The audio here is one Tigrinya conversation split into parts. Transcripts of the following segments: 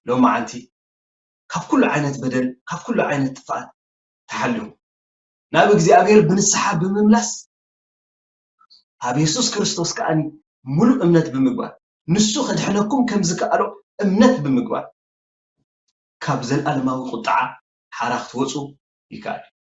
ሎማዓንቲ ካብ ኩሉ ዓይነት በደል ካብ ኩሉ ዓይነት ጥፍኣት ተሓልዮም ናብ እግዚኣብሔር ብንስሓ ብምምላስ ኣብ የሱስ ክርስቶስ ከኣ ሙሉእ እምነት ብምግባር ንሱ ከድሕነኩም ከም ዝከኣሎ እምነት ብምግባር ካብ ዘለኣለማዊ ቁጥዓ ሓራ ክትወጹ ይከኣል እዩ።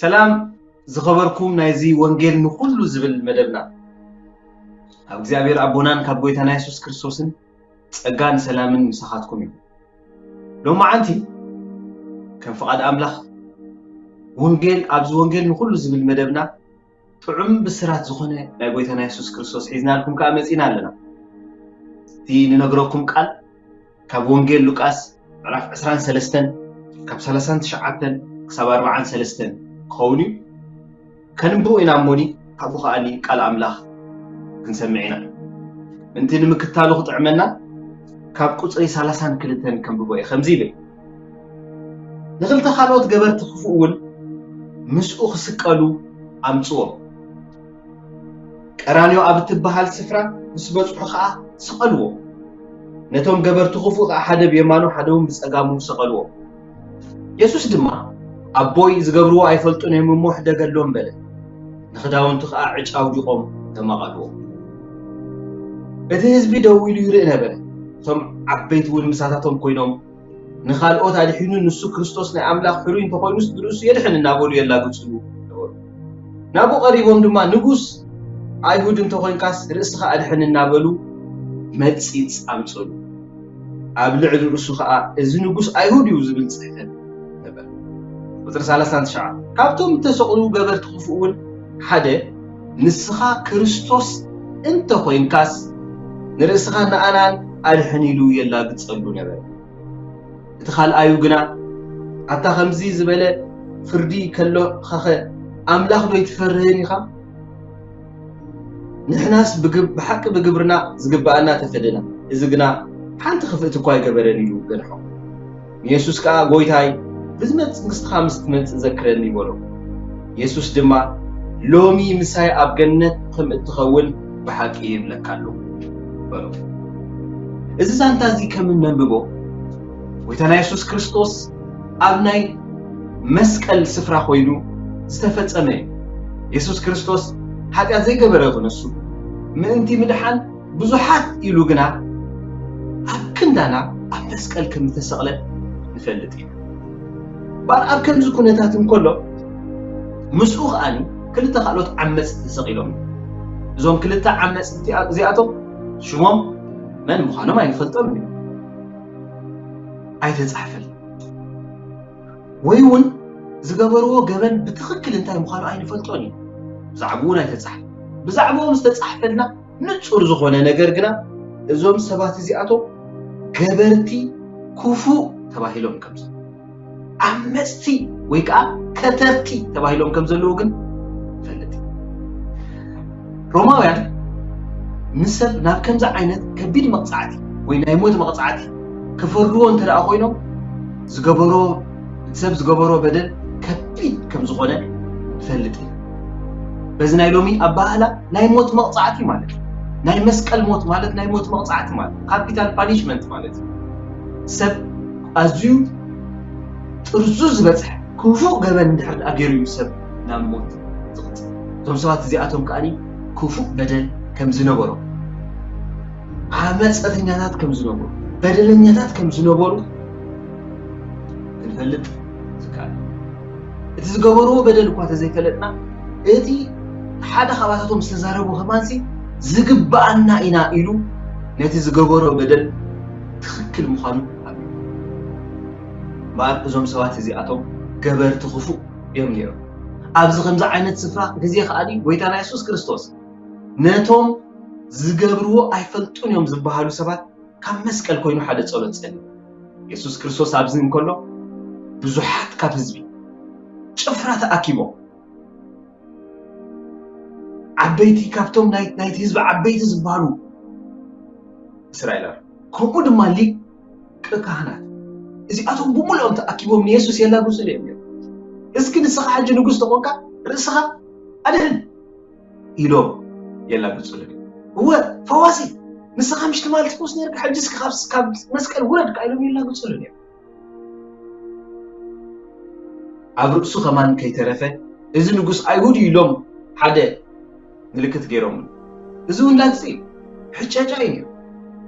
ሰላም ዝኸበርኩም ናይዚ ወንጌል ንኹሉ ዝብል መደብና ኣብ እግዚኣብሔር ኣቦናን ካብ ጎይታና የሱስ ክርስቶስን ጸጋን ሰላምን ምሳኻትኩም እዩ ሎማዓንቲ ከም ፍቓድ ኣምላኽ ወንጌል ኣብዚ ወንጌል ንኹሉ ዝብል መደብና ጥዑም ብስራት ዝኾነ ናይ ጎይታና የሱስ ክርስቶስ ሒዝናልኩም ከኣ መጺእና ኣለና። እቲ ንነግረኩም ቃል ካብ ወንጌል ሉቃስ ምዕራፍ ዕስራን ሰለስተን ካብ ሰላሳን ትሽዓተን ክሳብ ኣርብዓን ሰለስተን ክኸውን እዩ ከንብቦ ኢና እሞኒ ካብኡ ከዓኒ ቃል ኣምላኽ ክንሰምዕ ኢና ምእንቲ ንምክታሉ ክጥዕመና ካብ ቁፅሪ ሰላሳን ክልተን ከንብቦ እየ ከምዚ ይብል ንኽልተ ካልኦት ገበርቲ ክፉእውን ምስኡ ክስቀሉ ኣምጽዎም። ቀራንዮ ኣብ እትበሃል ስፍራ ምስ በጽሑ ኸኣ ሰቐልዎም። ነቶም ገበርቲ ክፉእ ኸኣ ሓደ ብየማኑ ሓደውን ብጸጋሙ ሰቐልዎም። የሱስ ድማ ኣቦይ ዝገብርዎ ኣይፈልጡን እዮም እሞ ሕደገሎም በለ። ንኽዳውንቱ ከኣ ዕጭ ኣውዲቖም ተማቐልዎ። እቲ ህዝቢ ደው ኢሉ ይርኢ ነበረ፣ እቶም ዓበይቲ እውን ምሳታቶም ኰይኖም፣ ንኻልኦት ኣድሒኑ ንሱ ክርስቶስ ናይ ኣምላኽ ሕሩይ እንተ ዀይኑስ ንርእሱ የድሕን እናበሉ የላግጹሉ ነበሩ። ናብኡ ቀሪቦም ድማ ንጉስ ኣይሁድ እንተ ዀይንካስ ርእስኻ ኣድሕን እናበሉ መጺጽ ኣምጽእሉ። ኣብ ልዕሊ ርእሱ ኸኣ እዚ ንጉስ ኣይሁድ እዩ ዝብል ጽሕፈት ነበረ። ቁጽሪ ሰላሳን ትሽዓን ካብቶም እተሰቕሉ ገበርቲ ኽፉእውን ሓደ ንስኻ ክርስቶስ እንተ ዀይንካስ ንርእስኻን ንኣናን ኣድሕን ኢሉ የላግጸሉ ነበረ። እቲ ኻልኣዩ ግና ኣታ ኸምዚ ዝበለ ፍርዲ ከሎኸኸ ኣምላኽ ዶ ኣይትፈርህን ኢኻ? ንሕናስ ብሓቂ ብግብርና ዝግብኣና ተፈደና፣ እዚ ግና ሓንቲ ክፍእቲ እኳ ኣይገበረን ኢሉ ገንሖ። ንየሱስ ከኣ ጐይታይ ብዝመጽእ መንግስትኻ ምስ ትመጽእ ዘክረኒ በሎ። የሱስ ድማ ሎሚ ምሳይ ኣብ ገነት ከም እትኸውን ብሓቂ ይብለካ ኣለኹ በሎ። እዚ ዛንታ እዚ ከም እነንብቦ ጐይታና የሱስ ክርስቶስ ኣብ ናይ መስቀል ስፍራ ኮይኑ ዝተፈጸመ እዩ። የሱስ ክርስቶስ ሓጢኣት ዘይገበረ ክንሱ ምእንቲ ምድሓን ብዙሓት ኢሉ ግና ኣብ ክንዳና ኣብ መስቀል ከም ዝተሰቕለ ንፈልጥ ኢና። ባር ኣብ ከምዚ ኩነታት እንከሎ ምስኡ ከኣኒ ክልተ ካልኦት ዓመጽቲ ተሰቒሎም እዞም ክልተ ዓመጽቲ እዚኣቶም ሽሞም መን ምዃኖም ኣይንፈልጦም እዩ ኣይተጻሕፈል ወይ እውን ዝገበርዎ ገበን ብትኽክል እንታይ ምዃኑ ኣይንፈልጦን እዩ ብዛዕባኡ ናይ ተጻሕፈ ብዛዕባኦም ዝተጻሕፈልና ንጹር ዝኾነ ነገር ግና እዞም ሰባት እዚኣቶም ገበርቲ ክፉእ ተባሂሎም ከም ዓመፅቲ ወይ ከዓ ከተርቲ ተባሂሎም ከም ዘለዉ ግን ሮማውያን ንሰብ ናብ ከምዚ ዓይነት ከቢድ መቕጻዕቲ ወይ ናይ ሞት መቕጻዕቲ ክፈርድዎ እንተ ደኣ ኮይኖም ዝገበሮ እቲ ሰብ ዝገበሮ በደል ከቢድ ከም ዝኾነ ንፈልጥ ኢና በዚ ናይ ሎሚ ኣባህላ ናይ ሞት መቕጻዕቲ ማለት እዩ ናይ መስቀል ሞት ማለት ናይ ሞት መቕጻዕቲ ማለት ካፒታል ፓኒሽመንት ማለት እዩ ሰብ ኣዝዩ ጥርዙ ዝበፅሐ ክፉእ ገበን እንድሕር ገይሩ እዩ ሰብ ናብ ሞት ዝቕጽል። እቶም ሰባት እዚኣቶም ከኣ ክፉእ በደል ከም ዝነበሮም፣ ዓመጸተኛታት ከም ዝነበሩ፣ በደለኛታት ከም ዝነበሩ ክንፈልጥ ዝከኣል እዩ። እቲ ዝገበርዎ በደል እኳ ተዘይፈለጥና እቲ ሓደ ካባታቶም ዝተዛረቡ ከማንሲ ዝግብኣና ኢና ኢሉ ነቲ ዝገበሮ በደል ትኽክል ምዃኑ ኣሚኑ እምበኣር እዞም ሰባት እዚኣቶም ገበርቲ ክፉእ እዮም ነይሮም። ኣብዚ ከምዚ ዓይነት ስፍራ ግዜ ከኣ ጎይታና የሱስ ክርስቶስ ነቶም ዝገብርዎ ኣይፈልጡን እዮም ዝበሃሉ ሰባት ካብ መስቀል ኮይኑ ሓደ ጸሎት ጸልዩ። የሱስ ክርስቶስ ኣብዚ እንከሎ ብዙሓት ካብ ህዝቢ ጭፍራ ተኣኪቦም ዓበይቲ ካብቶም ናይቲ ህዝቢ ዓበይቲ ዝበሃሉ እስራኤላውያን ከምኡ ድማ ሊቅ ሊቀ ካህናት እዚኣቶም ብምሉኦም ተኣኪቦም ንየሱስ የላግጹሉ እዮም ነይሮም። እስኪ ንስኻ ሕጂ ንጉስ ተኾንካ ርእስኻ ኣድህን ኢሎም የላግጹሉ እዮም። እወ ፈዋሲ ንስኻ ምሽ ትማል ትፈውስ ነርካ ሕጂ እስኪ ካብ መስቀል ውረድ ከዓ ኢሎም የላግጹሉ እዮም። ኣብ ርእሱ ከማን ከይተረፈ እዚ ንጉስ ኣይሁድ እዩ ኢሎም ሓደ ምልክት ገይሮምሉ። እዚ ውላድ'ዚ ሕጨጫ እዩ ነይሩ።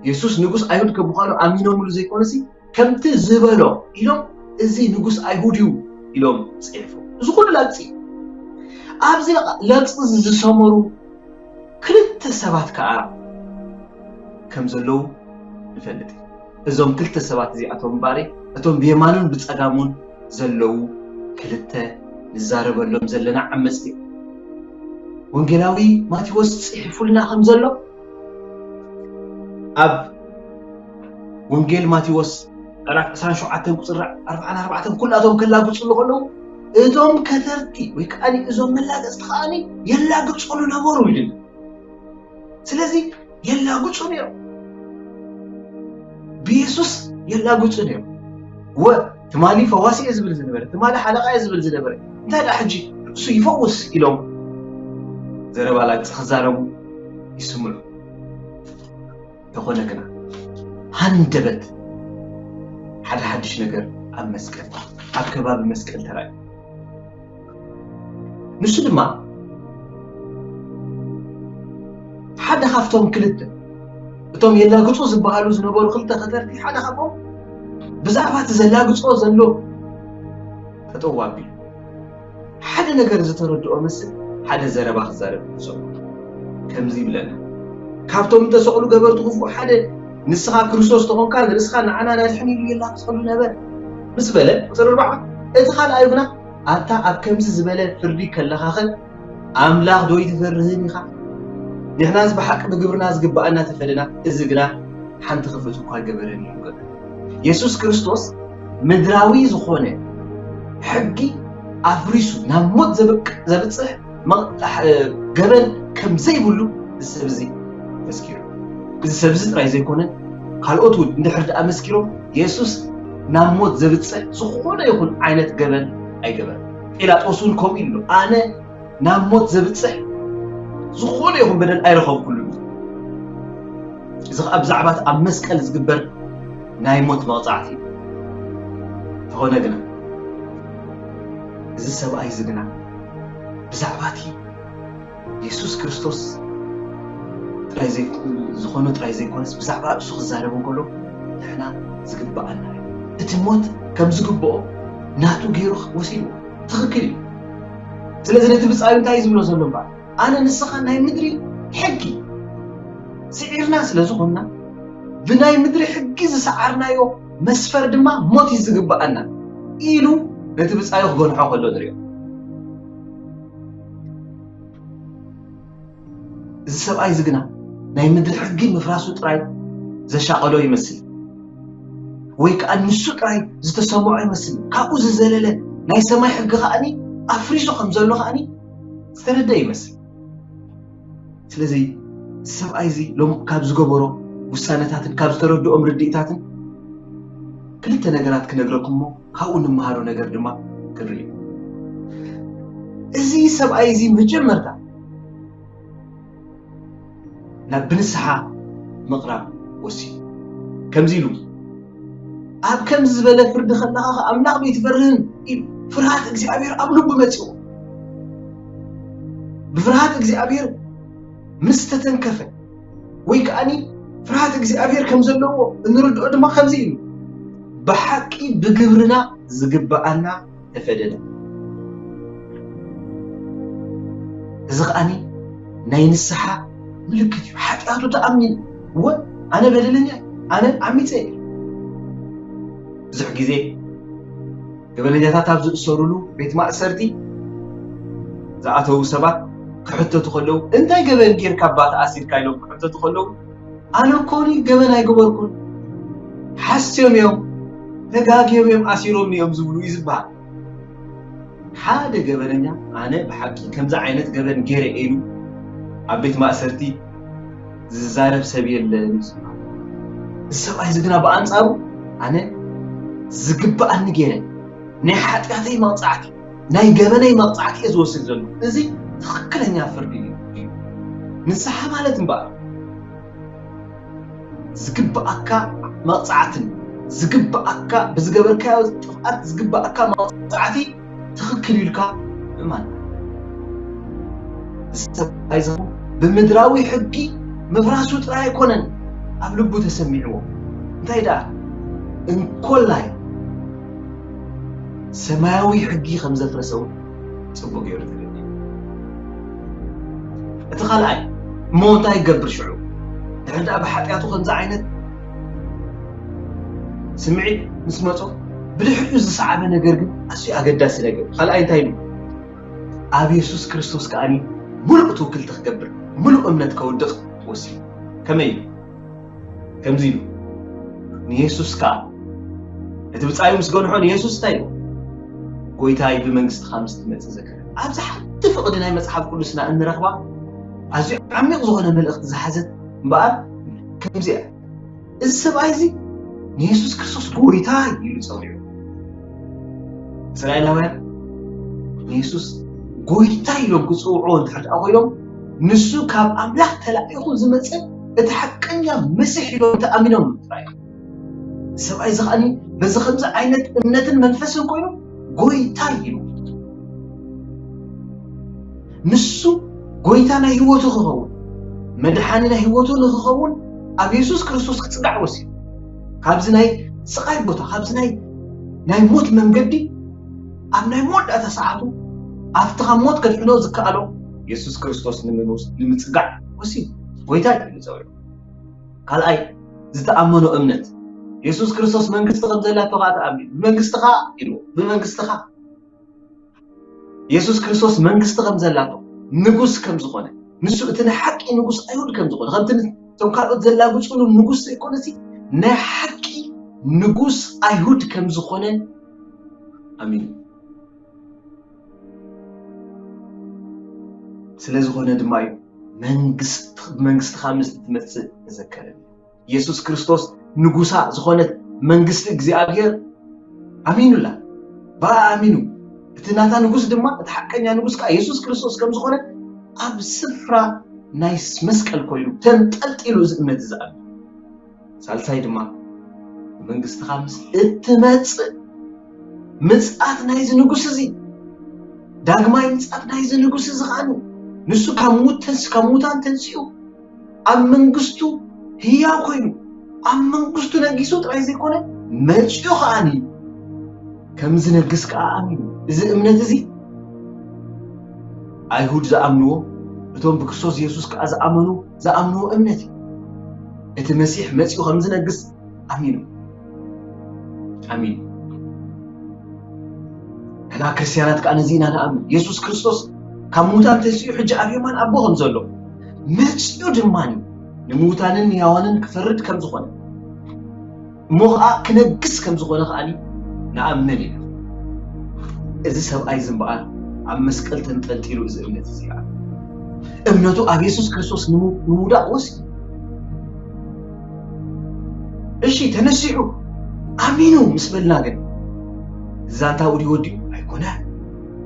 የሱስ ንጉስ ኣይሁድ ከም ምዃኑ ኣሚኖምሉ ዘይኰነሲ፣ ከምቲ ዝበሎ ኢሎም እዚ ንጉስ ኣይሁድ እዩ ኢሎም ጽሒፎም። እዚ ዅሉ ላግጺ እዩ። ኣብዚ ላግጺ'ዚ ዝሰመሩ ክልተ ሰባት ከኣ ከም ዘለዉ ንፈልጥ። እዞም ክልተ ሰባት እዚኣቶም እምበኣር'ይ እቶም ብየማኑን ብጸጋሙን ዘለዉ ክልተ ንዛረበሎም ዘለና ዓመጽቲ እዮም። ወንጌላዊ ማቴዎስ ጽሒፉልና ከም ዘሎ ኣብ ወንጌል ማቴዎስ ምዕራፍ 27 ቁጽሪ 44 ኩላቶም ከላግጹሉ ከለዉ እቶም ከተርቲ ወይ ከኣ እዞም መላገጽቲ ከኣ የላግጹሉ ነበሩ ይብል። ስለዚ የላግጹ ነይሮም ብየሱስ የላግጹ ነይሮም ወ ትማሊ ፈዋሲ እየ ዝብል ዝነበረ ትማሊ ሓለቃ እየ ዝብል ዝነበረ እንታይ ደኣ ሕጂ ርእሱ ይፈውስ ኢሎም ዘረባ ላግጺ ክዛረቡ ይስምዑ እንተኾነ ግና ሃንደበት ሓደ ሓድሽ ነገር ኣብ መስቀል ኣብ ከባቢ መስቀል ተራእዩ። ንሱ ድማ ሓደ ካብቶም ክልተ እቶም የላግጹ ዝበሃሉ ዝነበሩ ክልተ ከተርቲ ሓደ ካብኦም ብዛዕባ እቲ ዘላግጾ ዘሎ ጠጠው ኣቢሉ ሓደ ነገር ዝተረድኦ መስል ሓደ ዘረባ ክዛረብ ሰምዑ። ከምዚ ይብለና፣ ካብቶም እተሰቕሉ ገበርቲ ኽፉእ ሓደ፣ ንስኻ ክርስቶስ እንተ ዀንካ፣ ንርእስኻ ንዓና ኣድሕን ኢሉ የላግጸሉ ነበረ። ምስ በለ፣ ቍጽሪ ኣርብዓ፣ እቲ ኻልኣይ ግና፣ ኣታ ኣብ ከምዚ ዝበለ ፍርዲ ከለኻኸ፣ ኣምላኽዶ ኣይትፈርህን ኢኻ? ንሕናስ ብሓቂ ብግብርና ዚግብኣና ተፈደና፣ እዚ ግና ሓንቲ ኽፍእት እኳ ኣይገበረን እዩ በለ። የሱስ ክርስቶስ ምድራዊ ዝኾነ ሕጊ ኣፍሪሱ ናብ ሞት ዘብቅ ዘብጽሕ ገበን ከም ዘይብሉ እዚ ሰብ እዚ መስኪሩ እዚ ሰብ እዚ ጥራይ ዘይኮነ ካልኦት እውን እንድሕር ደኣ መስኪሮም የሱስ ናብ ሞት ዘብጽሕ ዝኾነ ይኹን ዓይነት ገበን ኣይገበረን ጲላጦስ እውን ከምኡ ኢሉ ኣሎ ኣነ ናብ ሞት ዘብጽሕ ዝኾነ ይኹን በደል ኣይረኸብኩሉን እዩ። እዚ ኸኣ ብዛዕባ እቲ ኣብ መስቀል ዝግበር ናይ ሞት መቕጻዕቲ እዩ። እንተኾነ ግና እዚ ሰብኣይ እዚ ግና ብዛዕባ እቲ የሱስ ክርስቶስ ጥራይ ዝኾነ ጥራይ ዘይኮነስ ብዛዕባ ርእሱ ክዛረብ እንከሎ ንሕና ዝግብኣና እዩ። እቲ ሞት ከም ዝግብኦ ናቱ ገይሩ ወሲድዎ ትኽክል እዩ። ስለዚ ነቲ ብጻዩ እንታይ እዩ ዝብሎ ዘሎ እምበኣር ኣነ ንስኻን ናይ ምድሪ ሕጊ ስዒርና ስለ ዝኾንና ብናይ ምድሪ ሕጊ ዝሰዓርናዮ መስፈር ድማ ሞት እዩ ዝግብኣና ኢሉ ነቲ ብፃዩ ክገንሖ ከሎ ንሪኦ እዚ ሰብኣይ እዚ ግና ናይ ምድሪ ሕጊ ምፍራሱ ጥራይ ዘሻቐሎ ይመስል። ወይ ከዓ ንሱ ጥራይ ዝተሰምዖ ይመስል። ካብኡ ዝዘለለ ናይ ሰማይ ሕጊ ከኣኒ ኣፍሪሱ ከም ዘሎ ከኣኒ ዝተረድአ ይመስል። ስለዚ እዚ ሰብኣይ እዚ ሎም ካብ ዝገበሮ ውሳነታትን ካብ ዝተረድኦም ርድኢታትን ክልተ ነገራት ክነግረኩም እሞ ካብኡ ንመሃሮ ነገር ድማ ክንርኢ እዚ ሰብኣይ እዚ መጀመርታ ናብ ብንስሓ ምቕራብ ወሲኑ። ከምዚ ኢሉ፣ ኣብ ከምዚ ዝበለ ፍርዲ ከለኻ ኸኣ ኣምላኽ በይትፈርህን ኢሉ ፍርሃት እግዚኣብሔር ኣብ ልቡ መጺኡ። ብፍርሃት እግዚኣብሔር ምስ ተተንከፈ ወይ ከኣኒ ፍርሃት እግዚኣብሔር ከም ዘለዎ እንርድኦ ድማ ከምዚ ኢሉ ብሓቂ ብግብርና ዝግብኣና ተፈደደ። እዚ ከኣ ናይ ንስሓ ምልክት እዩ። ሓጢኣቱ ተኣሚኑ እወ ኣነ በደለኛ እየ፣ ኣነ ዓሚጸ እየ። ብዙሕ ግዜ ገበነኛታት ኣብ ዝእሰሩሉ ቤት ማእሰርቲ ዝኣተዉ ሰባት ክሕተቱ ከለዉ እንታይ ገበን ጌርካ እባ ተኣሲርካ ኢሎም ክሕተቱ ከለዉ ኣነ ኮኒ ገበን ኣይገበርኩን ሓስዮም እዮም ተጋግዮም እዮም ኣሲሮምኒ እዮም ዝብሉ እዩ ዝበሃል ሓደ ገበነኛ ኣነ ብሓቂ ከምዚ ዓይነት ገበን ገይረ ኢሉ ኣብ ቤት ማእሰርቲ ዝዛረብ ሰብ የለን እዩ ዝበሃል እዚ ሰብኣይ እዚ ግና ብኣንጻሩ ኣነ ዝግብኣኒ ገይረ ናይ ሓጢኣተይ መቕጻዕቲ ናይ ገበነይ መቅጻዕቲ እየ ዝወስድ ዘለኩ እዚ ትክክለኛ ፍርዲ እዩ ንስሓ ማለት እምበኣር ዝግብኣካ መቅጻዕትን ዝግብኣካ ብዝገበርካዮ ጥፍኣት ዝግብኣካ መቅጻዕቲ ትክክል ኢልካ ምእማን ዝተታይዘኹ ብምድራዊ ሕጊ ምፍራሱ ጥራይ ኣይኮነን ኣብ ልቡ ተሰሚዕዎ እንታይ ደኣ እንኮላይ ሰማያዊ ሕጊ ከም ዘፍረሰ እውን ጽቡቕ ገይሩ ተረዲኡ። እቲ ካልኣይ እሞ እንታይ ይገብር ሽዑ ድሕሪ ደኣ ብሓጢኣቱ ከምዚ ዓይነት ስምዒት ምስ መጾ ብድሕሪኡ ዝሰዓበ ነገር ግን ኣዝዩ ኣገዳሲ ነገር ካልኣይ እንታይ ኢሉ ኣብ የሱስ ክርስቶስ ከዓኒ ምሉእ ትውክልቲ ክገብር ምሉእ እምነት ከውድቕ ወሲኑ ከመይ እዩ ከምዚ ኢሉ ንየሱስ ከኣ እቲ ብጻዩ ምስ ገንሖ ንየሱስ እንታይ ኢሉ ጎይታይ ብመንግስትኻ ምስ ትመጽእ ዘክረ ኣብዚ ሓንቲ ፍቕዲ ናይ መጽሓፍ ቅዱስና እንረኽባ ኣዝዩ ዓሚቕ ዝኾነ መልእኽቲ ዝሓዘት እምበኣር ከምዚ እያ እዚ ሰብኣይ እዚ ንየሱስ ክርስቶስ ጎይታ ኢሉ ጸዊዑ እስራኤላውያን ንየሱስ ጎይታ ኢሎም ክጽውዑ እንድሕር ደኣ ኮይኖም ንሱ ካብ ኣምላኽ ተላኢኹ ዝመጸ እቲ ሓቀኛ መሲሕ ኢሎም ተኣሚኖም ጥራይ እዚ ሰብኣይ እዚ ኸኣኒ በዚ ከምዚ ዓይነት እምነትን መንፈስን ኮይኑ ጎይታ ኢሉ ንሱ ጎይታ ናይ ህይወቱ ክኸውን መድሓኒ ናይ ህይወቱ ንክኸውን ኣብ የሱስ ክርስቶስ ክፅጋዕ ወሲኑ ካብዚ ናይ ስቓይ ቦታ ካብዚ ናይ ናይ ሞት መንገዲ ኣብ ናይ መወዳእታ ሰዓቱ ኣብቲ ካብ ሞት ከድሕኖ ዝከኣሎ የሱስ ክርስቶስ ንምጽጋዕ ወሲኑ ጎይታይ ኢሉ ጸውዑ። ካልኣይ ዝተኣመኖ እምነት የሱስ ክርስቶስ መንግስቲ ከም ዘላቶ ከዓ ተኣሚኑ ብመንግስትኻ ኢሉ ብመንግስትኻ የሱስ ክርስቶስ መንግስቲ ከም ዘላቶ ንጉስ ከም ዝኾነ ንሱ እቲ ናይ ሓቂ ንጉስ ኣይሁድ ከም ዝኾነ ከምቲ እቶም ካልኦት ዘላግፅሉ ንጉስ ዘይኮነ እዚ ናይ ሓቂ ንጉስ ኣይሁድ ከም ዝኾነ ኣሚኑ ስለ ዝኾነ ድማ እዩ ብመንግስትኻ ምስ እትመጽእ ተዘከረኒ የሱስ ክርስቶስ ንጉሳ ዝኾነት መንግስቲ እግዚኣብሔር ኣሚኑላ ብኣ ኣሚኑ እቲ ናታ ንጉስ ድማ እቲ ሓቀኛ ንጉስ ከዓ የሱስ ክርስቶስ ከም ዝኾነ ኣብ ስፍራ ናይ መስቀል ኮይኑ ተንጠልጢሉ እዚ እምነት እዚ ሳልሳይ ድማ ብመንግስትኻ ምስ እትመጽእ ምጽኣት ናይዚ ንጉስ እዚ ዳግማይ ምጽኣት ናይዚ ንጉስ እዚ ኸኣኒ ንሱ ካብ ሙት ተንስ ካብ ሙታን ተንሲኡ ኣብ መንግስቱ ህያው ኮይኑ ኣብ መንግስቱ ነጊሱ ጥራይ ዘይኮነ መጺኡ ኸኣኒ ከም ዝነግስ ከዓ ኣሚኑ እዚ እምነት እዚ ኣይሁድ ዝኣምንዎ እቶም ብክርስቶስ የሱስ ከዓ ዝኣመኑ ዝኣምንዎ እምነት እዩ። እቲ መሲሕ መጺኡ ከም ዝነግስ ኣሚኑ ኣሚኑ ሕና ክርስትያናት ከዓ ነዚ ኢና ንኣምን የሱስ ክርስቶስ ካብ ምዉታን ተንስኡ ሕጂ ኣብ የማን ኣቦ ከም ዘሎ መጺኡ ድማ ንምዉታንን ንያዋንን ክፈርድ ከም ዝኾነ እሞ ኸኣ ክነግስ ከም ዝኾነ ኸኣ ንኣምን ኢና። እዚ ሰብኣይ እዚ እምበኣር ኣብ መስቀል ተንጠልጢሉ እዚ እምነት እዚ ኣሉ። እምነቱ ኣብ የሱስ ክርስቶስ ንምውዳቕ ወሲኑ። እሺ ተነሲሑ ኣሚኑ ምስ በልና ግን ዛንታ ውዲ ወዲኡ ኣይኮነን።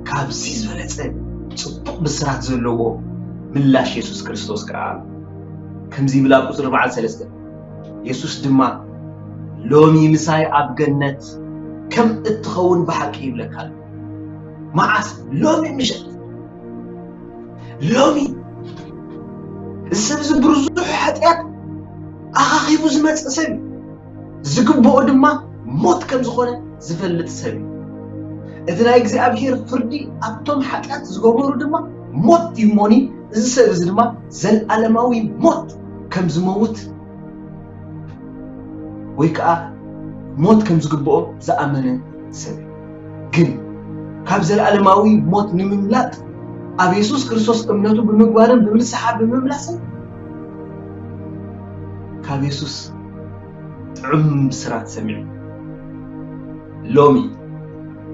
ካብዚ ዝበለጸ ጽቡቕ ብስራት ዘለዎ ምላሽ የሱስ ክርስቶስ ከኣ ከምዚ ይብል ኣብ ቁጽሪ በዓል ሰለስተ የሱስ ድማ ሎሚ ምሳይ ኣብ ገነት ከም እትኸውን ብሓቂ ይብለካ ኣሎ። መዓስ? ሎሚ ምሸት። ሎሚ እዚ ሰብ እዚ ብርዙሕ ሓጢኣት ኣኻኺቡ ዝመጽእ ሰብ እዩ። ዝግብኦ ድማ ሞት ከም ዝኾነ ዝፈልጥ ሰብ እዩ እቲ ናይ እግዚኣብሄር ፍርዲ ኣብቶም ሓጢኣት ዝገበሩ ድማ ሞት ይሞኒ እዚ ሰብ እዚ ድማ ዘልኣለማዊ ሞት ከም ዝመውት ወይ ከኣ ሞት ከም ዝግብኦ ዝኣመነ ሰብ እዩ። ግን ካብ ዘልኣለማዊ ሞት ንምምላጥ ኣብ የሱስ ክርስቶስ እምነቱ ብምግባርን ብምንስሓ ብምምላስን ካብ የሱስ ጥዑም ብስራት ሰሚዑ ሎሚ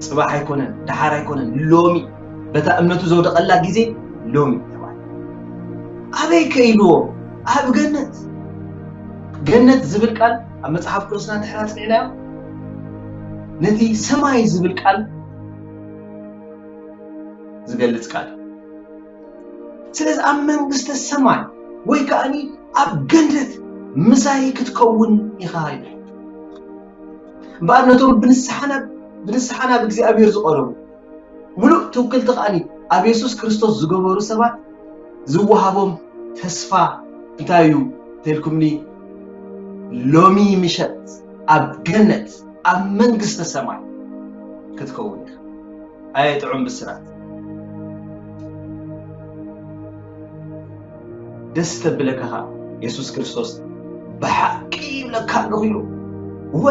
ጽባሕ ኣይኮነን ደሓር ኣይኮነን ሎሚ በታ እምነቱ ዘውደቐላ ግዜ ሎሚ እዩ ተባህለ። ኣበይ ከኢልዎ? ኣብ ገነት። ገነት ዝብል ቃል ኣብ መጽሓፍ ቅዱስና እንድሕር ኣጽኒዕናዮ ነቲ ሰማይ ዝብል ቃል ዝገልጽ ቃል ስለዚ ኣብ መንግስተ ሰማይ ወይ ከዓኒ ኣብ ገነት ምሳይ ክትከውን ኢኻ ይብል እምበኣር ነቶም ብንስሓና ብንስሓና ብእግዚኣብሔር ዝቐረቡ ምሉእ ትውክልቲ ከኣ ኣብ የሱስ ክርስቶስ ዝገበሩ ሰባት ዝወሃቦም ተስፋ እንታይ እዩ እንተልኩምኒ ሎሚ ምሸት ኣብ ገነት ኣብ መንግስተ ሰማይ ክትከውን ኢኻ ኣየ ጥዑም ብስራት ደስ ተብለካ ኸዓ የሱስ ክርስቶስ ብሓቂ ይብለካ ኣለኹ ኢሉ እወ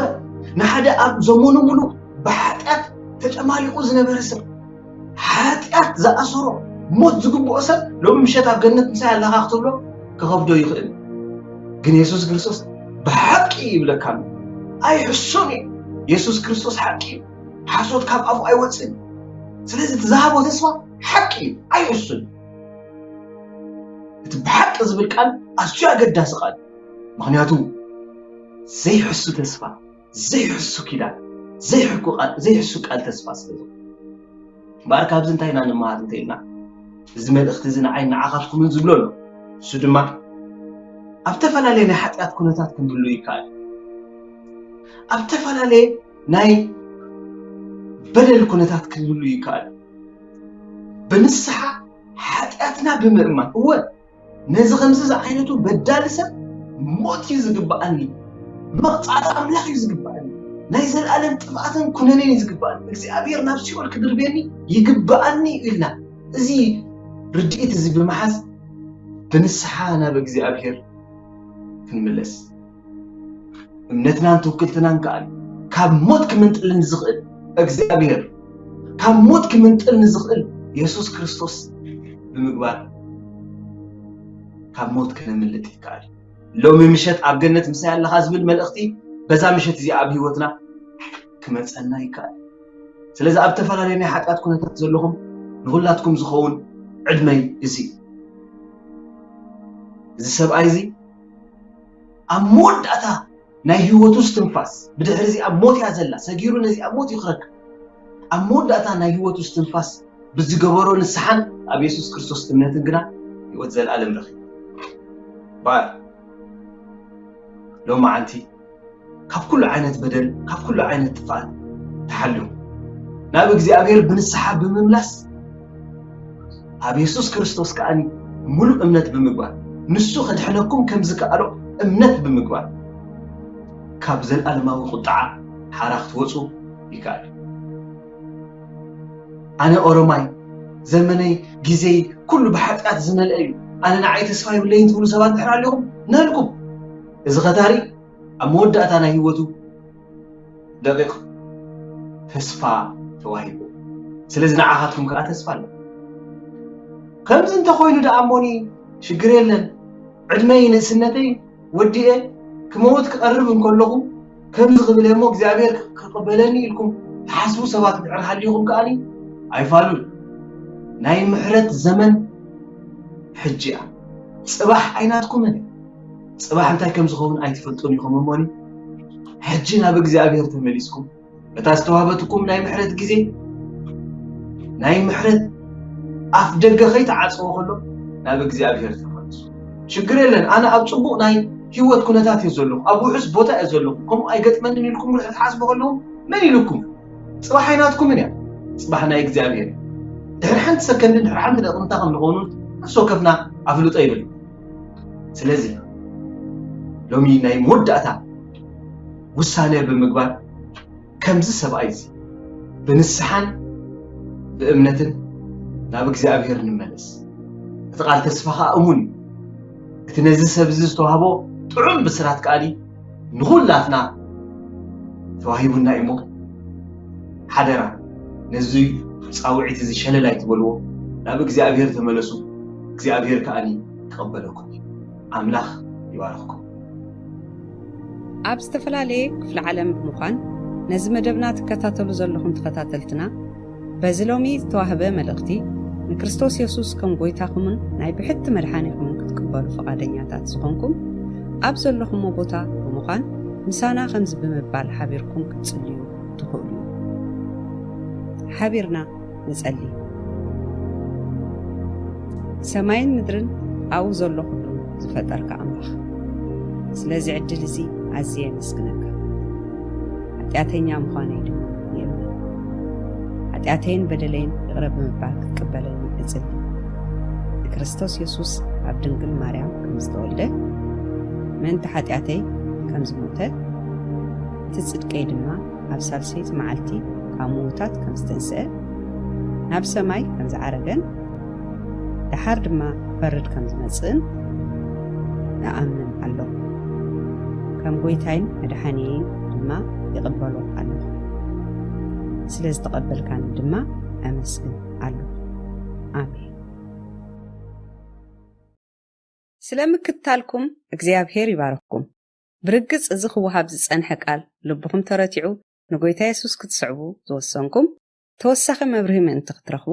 ንሓደ ኣብ ዘመኑ ሙሉእ ብሓጢኣት ተጨማሊቑ ዝነበረ ሰብ ሓጢኣት ዝኣሰሮ ሞት ዝግብኦ ሰብ ሎሚ ምሸት ኣብ ገነት ምሳይ ኣለኻ ክትብሎ ክኸብዶ ይኽእል ግን የሱስ ክርስቶስ ብሓቂ ይብለካ ኣሎ ኣይሕሶን እዩ የሱስ ክርስቶስ ሓቂ እዩ ሓሶት ካብ ኣፉ ኣይወፅእን ስለዚ እቲ ዝሃቦ ተስፋ ሓቂ እዩ ኣይሕሱን እቲ ብሓቂ ዝብል ቃል ኣዝዩ ኣገዳሲ ቃል ምክንያቱ ዘይሕሱ ተስፋ ዘይሕሱ ኪዳን፣ ዘይሕኩ ቃል፣ ዘይሕሱ ቃል ተስፋ ስለ ዝኾነ። እምበኣር ካብዚ እንታይ ኢና ንመሃር እንተ ኢልና፣ እዚ መልእኽቲ እዚ ንዓይን ንዓኻትኩምን ዝብሎ ኣሎ። ንሱ ድማ ኣብ እተፈላለየ ናይ ሓጢኣት ኩነታት ክንህሉ ይከኣል እዩ። ኣብ እተፈላለየ ናይ በደል ኩነታት ክንህሉ ይከኣል እዩ። ብንስሓ ሓጢኣትና ብምእማን እወ ነዚ ከምዚ ዝዓይነቱ በዳሊ ሰብ ሞት እዩ ዝግባኣኒ፣ መቕጻዕቲ ኣምላኽ እዩ ዝግባኣኒ፣ ናይ ዘለኣለም ጥፍኣትን ኩነኔን እዩ ዝግባኣኒ፣ እግዚኣብሔር ናብ ሲኦል ክድርብየኒ ይግባኣኒ እዩ ኢልና እዚ ርድኢት እዚ ብምሓዝ ብንስሓ ናብ እግዚኣብሔር ክንምለስ እምነትናን ትውክልትናን ከኣ ካብ ሞት ክምንጥል ንዝኽእል እግዚኣብሔር ካብ ሞት ክምንጥል ንዝኽእል የሱስ ክርስቶስ ብምግባር ካብ ሞት ክነምልጥ ይከኣል ሎሚ ምሸት ኣብ ገነት ምሳይ ኣለኻ ዝብል መልእኽቲ በዛ ምሸት እዚኣ ኣብ ህይወትና ክመፀና ይከኣል ስለዚ ኣብ ተፈላለየ ናይ ሓጢኣት ኩነታት ዘለኹም ንኹላትኩም ዝኸውን ዕድመይ እዚ እዩ እዚ ሰብኣይ እዚ ኣብ መወዳእታ ናይ ህይወቱ እስትንፋስ፣ ብድሕሪ እዚኣ ሞት እያ ዘላ፣ ሰጊሩ ነዚኣ ሞት እዩ ክረክብ። ኣብ መወዳእታ ናይ ህይወቱ እስትንፋስ ብዝገበሮ ንስሓን ኣብ የሱስ ክርስቶስ እምነትን ግና ህይወት ዘለኣለም ረኺቡ። እምበኣር ሎማዓንቲ፣ ካብ ኩሉ ዓይነት በደል ካብ ኩሉ ዓይነት ጥፍኣት ተሓልዮም ናብ እግዚኣብሔር ብንስሓ ብምምላስ ኣብ የሱስ ክርስቶስ ከኣ ሙሉእ እምነት ብምግባር ንሱ ከድሕነኩም ከም ዝከኣሎ እምነት ብምግባር ካብ ዘለኣለማዊ ቁጥዓ ሓራ ክትወፁ ይከኣል ኣነ ኦሮማይ ዘመነይ ግዜይ ኩሉ ብሓጢኣት ዝመልአ እዩ ኣነ ንዓይ ተስፋ ይብለይን ትብሉ ሰባት ድሕር ኣለኹም ናልኩም እዚ ኸታሪ ኣብ መወዳእታ ናይ ህይወቱ ደቒቕ ተስፋ ተዋሂብዎ። ስለዚ ንዓኻትኩም ከኣ ተስፋ ኣሎ። ከምዚ እንተ ኾይኑ ደኣ እሞኒ ሽግር የለን፣ ዕድመይ ንእስነተይ ወዲኤ ክመውት ክቐርብ እንከለኹ ከምዚ ክብል እየ እሞ እግዚኣብሔር ክቕበለኒ ኢልኩም ትሓስቡ ሰባት ድሕር ሃሊኹም ከኣኒ ኣይፋሉን። ናይ ምሕረት ዘመን ሕጂ እያ። ጽባሕ ኣይናትኩምን እያ። ጽባሕ እንታይ ከም ዝኸውን ኣይትፈልጡን ኢኹም እሞኒ ሕጂ ናብ እግዚኣብሔር ተመሊስኩም በታ ዝተዋህበትኩም ናይ ምሕረት ግዜ ናይ ምሕረት ኣፍ ደገ ከይተዓጽዎ ከሎ ናብ እግዚኣብሔር ተመልሱ ሽግር የለን ኣነ ኣብ ጽቡቕ ናይ ህይወት ኩነታት እየ ዘለኹ ኣብ ውሑስ ቦታ እየ ዘለኹ ከምኡ ኣይገጥመንን ኢልኩም ርሕ ትሓስቡ ከለዉ መን ኢልኩም ጽባሕ ኣይናትኩምን እያ ጽባሕ ናይ እግዚኣብሔር ድሕሪ ሓንቲ ሰከንድን ድሕሪ ሓንቲ ደቕምታ ከም ንኾኑ ነፍሲ ወከፍና ኣፍልጦ ይብል ስለዚ ሎሚ ናይ መወዳእታ ውሳነ ብምግባር ከምዚ ሰብኣይ እዚ ብንስሓን ብእምነትን ናብ እግዚኣብሔር ንመለስ እቲ ቃል ተስፋ ከዓ እሙን እዩ እቲ ነዚ ሰብ እዚ ዝተዋህቦ ጥዑም ብስራት ከኣሊ ንኹላትና ተዋሂቡና እዩሞ ሓደራ ነዚ ጻውዒት እዚ ሸለል ኣይትበልዎ፣ ናብ እግዚኣብሄር ተመለሱ፣ እግዚኣብሄር ከኣ ክቕበለኩም እዩ። ኣምላኽ ይባርኽኩም። ኣብ ዝተፈላለየ ክፍለ ዓለም ብምዃን ነዚ መደብና ትከታተሉ ዘለኹም ተኸታተልትና፣ በዚ ሎሚ ዝተዋህበ መልእኽቲ ንክርስቶስ የሱስ ከም ጎይታኹምን ናይ ብሕቲ መድሓኒኹምን ክትቅበሉ ፍቓደኛታት ዝኾንኩም ኣብ ዘለኹሞ ቦታ ብምዃን ምሳና ከምዚ ብምባል ሓቢርኩም ክትጽልዩ ትኽእሉ ሓቢርና ንጸሊ ሰማይን ምድርን ኣብኡ ዘሎ ኩሉ ዝፈጠርካ ኣምላኽ ስለዚ ዕድል እዚ ኣዝየ የመስግነካ ሓጢኣተኛ ምዃነይ ድማ የእምን። ሓጢኣተይን በደለይን ይቕረ ብምባል ክትቅበለኒ እጽሊ። ንክርስቶስ የሱስ ካብ ድንግል ማርያም ከም ዝተወልደ ምእንቲ ሓጢኣተይ ከም ዝሞተ እቲ ጽድቀይ ድማ ኣብ ሳልሰይቲ መዓልቲ ካብ ምዉታት ከም ዝተንስአ ናብ ሰማይ ከም ዝዓረገን ደሓር ድማ ክፈርድ ከም ዝመጽእን እኣምን ኣለኹ። ከም ጐይታይን መድሓኒየይን ድማ ይቕበሎ ኣለኹ። ስለ ዝተቐበልካኒ ድማ ኣመስግን ኣለኹ። ኣሜን። ስለ ምክትታልኩም እግዚኣብሄር ይባርኽኩም። ብርግጽ እዚ ክወሃብ ዝጸንሐ ቃል ልብኹም ተረቲዑ ንጐይታ የሱስ ክትስዕቡ ዝወሰንኩም ተወሳኺ መብርሂ ምእንቲ ክትረኽቡ